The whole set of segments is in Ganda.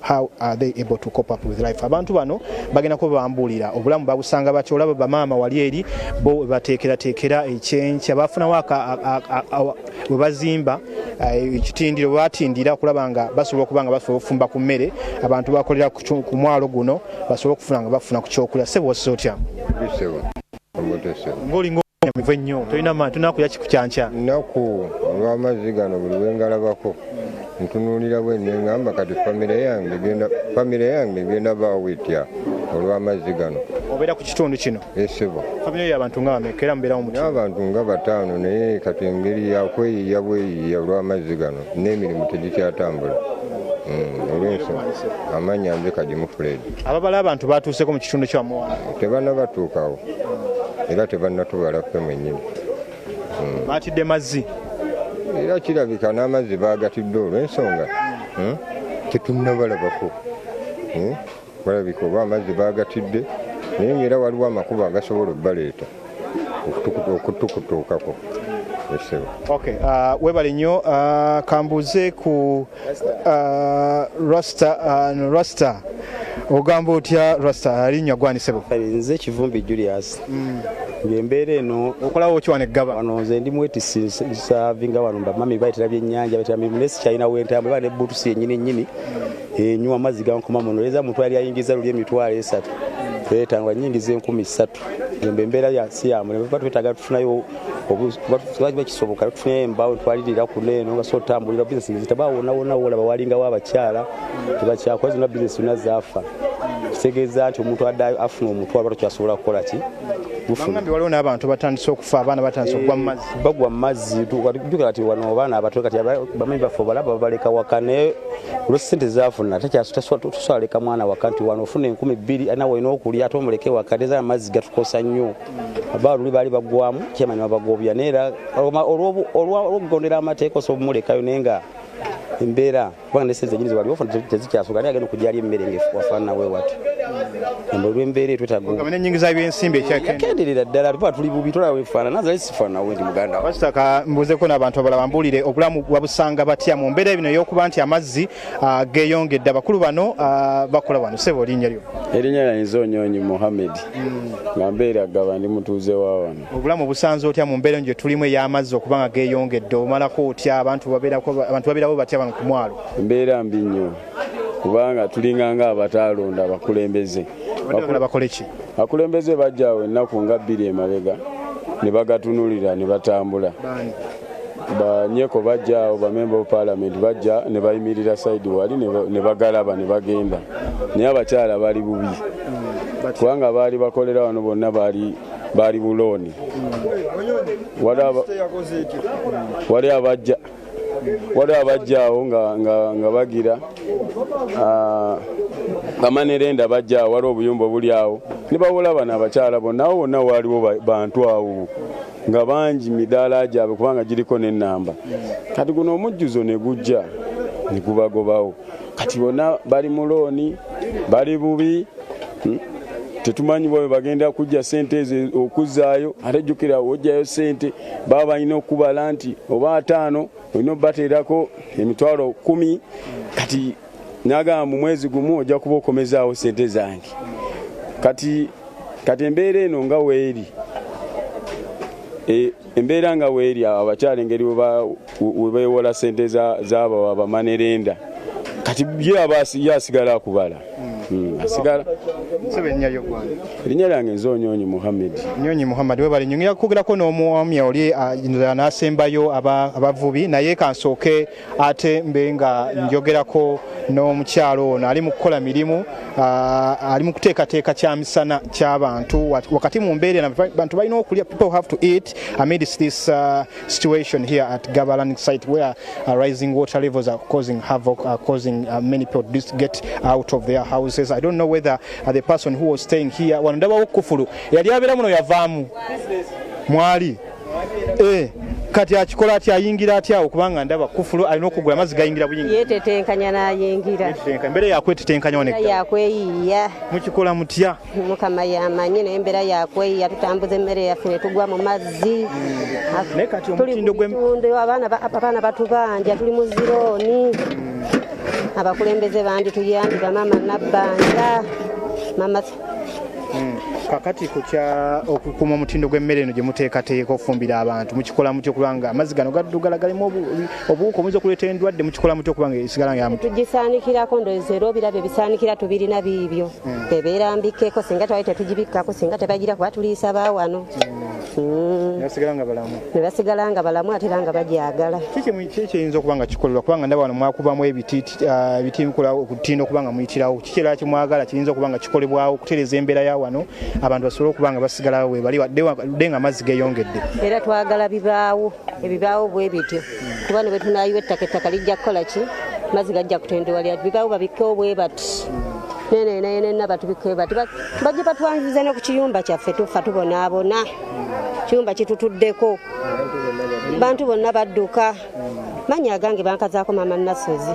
how are they able to cope up with life abantu bano bagenda kuba bambuulira obulamu babusanga batya olaba bamaama wali eri bo bateekerateekera ekyenkya bafunawo we bazimba eh, ekitindiro batindira okulaba nga basobola okuba nga basobola okufumba ku mmere abantu bakolera ku mwalo guno basobola okufuna nga bafuna ku kyokulya sebo osisa otya ng'olinga omuvu ennyo tolina maanyi tunakuya kikukyankya nnaku olw'amazzi gano buli wengalabako ntunuulira bwe nengamba kati famire yange egenda famire yange egenda baawo etya olw'amazzi gano obeera ku kitundu kino esebo eh, famire y'abantu nga bameka era mubeerawo mu abantu nga bataano naye kati engeri yakweyiiya bweyiiya olw'amazzi gano n'emirimu tegikyatambula hmm, olwensonga amaanyi anze kagimu fuledi ababala abantu batuuseko mu kitundu kya muwanga tebanna batuukawo era tebanna tubala ffe mwennyini hmm. batidde mazzi era kirabika n'amazzi bagatidde olw'ensonga hmm? tetunnabalabako hmm? balabika oba amazzi bagatidde naye ngaera waliwo amakubo agasobola okubaleeta okutukutuukako Okay, uh, webale nnyo uh, kambuuze ku uh, rasta uh, rasta ogamba otya rasta alinya gwanisebo nze kivumbi julius mm. ngembeera eno okolawo ki wano eggaba wano nze ndi mwetisi savinga wano bamami bayitira byennyanja bayitira mirimu naye sikyalina wentambwe ba ne butusi yennyini nnyini mm. enywa amazzi gankoma muno leza muntu yali ayingiza luli emitwalo esatu mm. etano anyingiza enkumi ssatu Jomba embeera ya siyamu nebaba twetaaga tufunayo obuba kisoboka tufunayo embaawo twalirira kuno eno nga so otambulira bizinesi nezitaba wona wona wolaba walingawo abakyala tebakyakola zonna bizinesi zonna zaafa kitegeeza nti omuntu addayo afuna omutwalo lwatu kyasobola kukola ki waliwo n'abantu batandise okufa abaana batandise okugwa mu mazzi bagwa mu mazzi jjuka kati wano abaana abato kati bamanyi baffe obalaba babaleka waka naye olwesente zafuna takyatusaleka mwana waka nti wano ofuna enkumi bbiri nawe olina okulya ate omuleke waka neza amazzi gatukosa nnyo aba luli baali bagwamu kyemanya babagobya naye era olwokugondera amateeka osobola omulekayo naye nga embeera kubanga ne sente nyinzi waliwo fana tezikyasoka naye agenda okujali emmere ngefu wafaana we watu embo lwembeera etwetago kamene nyingiza ebyensimbi ekyakenderera ddala tuba tuli bubi tolaba wefaana nazali sifaana we ndi muganda wasitaka mbuuzeko n'abantu abalaba mbuulire obulamu wabusanga batya mu mbeera bino ey'okuba nti amazzi ah, geeyongedde abakulu bano ah, bakola wano sebo linnya lyo erinnya lyanyiza onyonyi muhammed nga mbeera gaba ndi mutuuze wa wano obulamu busanze otya mu mbeera gye tulimu ey'amazzi okuba nga geeyongedde omalako otya abantu babeerawo batya bano ku mwalo mbeera mbi nnyo kubanga tulinganga abataalonda abakulembeze abakulembeze bajjawo ennaku nga bbiri emabega ne bagatunulira ne batambula banyeko bajjaawo bamemba of palamenti bajja ne bayimirira saidi wali ne bagalaba ne bagenda naye abakyala bali bubi hmm, kubanga baali bakolera wano bonna baali baali bulooni wali abajja waliwo abajjaawo nga bagira ah, bamanerenda bajjaawo waliwo obuyumba obuli awo nibawola bano abakyala bonawo wonna waaliwo bantu awo nga bangi midaala gyabwe kubanga giriko nenamba kati guno omujjuzo negujja negubagobawo kati bona bali mu looni bali bubi hmm? tetumanyi bwabe bagenda kujja sente ezo okuzaayo ate jjukira ojjayo sente baba balina okubala nti oba ataano olina obateerako emitwalo kumi kati nagamba mu mwezi gumu ojja kuba okomezaawo sente zange kati kati embeera eno nga weeri e, embeera nga weeri abakyala engeri webewola sente zabawa bamanerenda kati ye asigala akubala hmm, erinnya lyange nze onyonyi muhammed nyonyi muhammed webale nyonyi yakugerako n'omwami oli anasembayo abavubi naye kansooke ate mbe nga njogerako n'omukyalo ono ali mu kukola mirimu ali mu kuteekateeka kya misana ky'abantu wakati mu mbeera bantu balina okulya people have to eat amidst this uh, situation here at Gabalan site where uh, rising water levels are causing havoc, are causing uh, many people to get out of their houses. I don't know whether uh, the person who was staying here, wanadaba wokufulu, yali abela muno yavamu, mwali, eh, kati akikola atya ayingira atya okubanga ndaba kufulu alina okugula amazzi gayingira buyingi yetetenkanya nayingira embeera yakwetetenkanya onekta yakweyiiya mukikola mutya mukama yamanyi naye embeera yakweyi yatutambuza emmere yaffe netugwa mu mazzi tulitundu abaana batubanja tuli mu zirooni abakulembeze bangi tuyambi bamama nabbanja mama hmm. kakati kukya okukuuma omutindo gw'emmere eno gye muteekateeka okufumbira abantu mukikolamu kyokulanga amazzi gano gaddugala galimu obuwuka obuyinza okuleeta endwadde mukikola mutya okuba nga esigala nga tugisaanikirako ndowooza era obirabyo bisaanikira tubirina biibyo hmm. ebeera mbikkeko singa twali tetugibikkako singa tebagira kuba tuliisa baawano hmm. nebasigala nga balamu ate era nga bagyagala kiki ekiyinza okuba nga kikolebwa kubanga ndaba wano mwakubamu ebitiiti Ah, ebitinkula okutinda okuba nga muyitirawo kikyera kimwagala kiyinza okuba nga kikolebwawo okutereza embeera ya wano abantu basobole okuba nga basigalawo webali wadde nga amazzi geyongedde era twagala bibaawo ebibaawo bwe bityo kuba ne bwe tunayiwa ettaka ettaka lijja kukola ki mazzi gajja kutendewa lyatu bibaawo babikkewo bwe bati nenenayenena batubikkewo bati bajje batwanziza ne ku kiyumba kyaffe tufa tubonaabona kiyumba kitutuddeko bantu bonna badduka manya agange bankazaako maama nasozi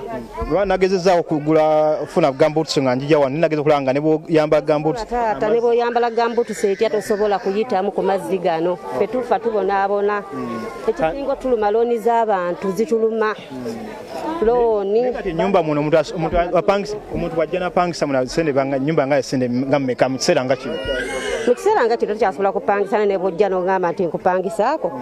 lwa nagezezaako kugula funa gambuts nga njija wano nageza okulaba nga neboyamba gambuts taata neboyambala gambuts etya tosobola kuyitamu ku mazzi gano fe tufa tubonaabona hmm. ekisinga otuluma looni z'abantu zituluma hmm. looni enyumba muno omuntu wajja napangisa muna sente nyumba nga sente nga mumeka mu kiseera nga kino mu kiseera nga kino tukyasobola kupangisa ne nebwojja nogamba nti nkupangisaako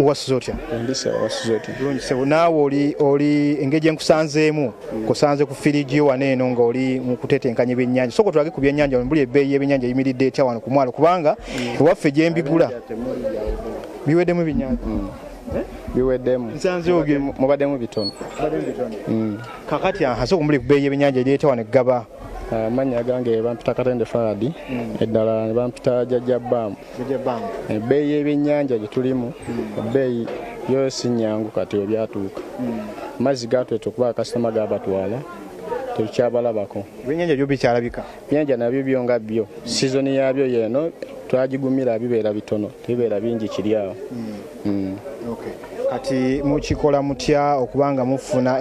wasuze otya naawe oli oli engeri gyenkusanzeemu kusanze ku firigi yo wano eno ngaoli mukutetenkanya ebyenyanja soko tulage ku byenyanja mbuli ebbeeyi yebyenyanja eyimiridde etya wano ku mwalo kubanga mm. ewaffe gyembigula biweddemu ebyenyanja mm. eh? biweddemu mubaddemu bitono mm. kakati ahasa okumbuli ku bbeeyi yebyenyanja eri etya wano eggaba amanya ah, gange bampita katende faradi eddala nebampita jajja baamu ebbeeyi y'ebyennyanja gye tulimu ebbeeyi yo si nnyangu kati ebyatuuka amazzi hmm. gaatweta okuba akasitoma gaabatwala tekyabalabako ebyenyanja byo bikyalabika ebyenyanja nabyo byo nga byo sizoni yabyo yeno twagigumira bibeera bitono tebibeera bingi kiri awo hmm. Hmm. kati mukikola mutya okubanga mufuna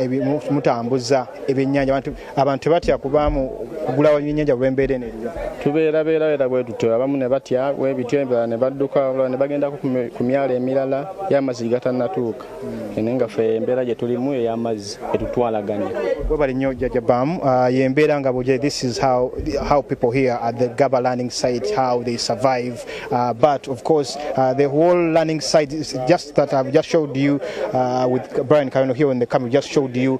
mutambuza ebyenyanja abantu tebatya kubaamu kugula wenyenyanja lwembeera eno eriyo tubeera beerabeera bwe tutyo abamu ne batya webityo ebirala ne badduka olala ne bagendako ku myalo emirala y'amazzi gigatannatuuka hmm. ene nga fe embeera gye tulimu ey'amazzi etutwalaganya webale nnyo jajja baamu ah, yembeera nga buje this is how, how people here at the gaba learning site how they survive uh, but of course uh, the whole learning site is just that i've just showed you uh, with brian kayono here in the camera just showed you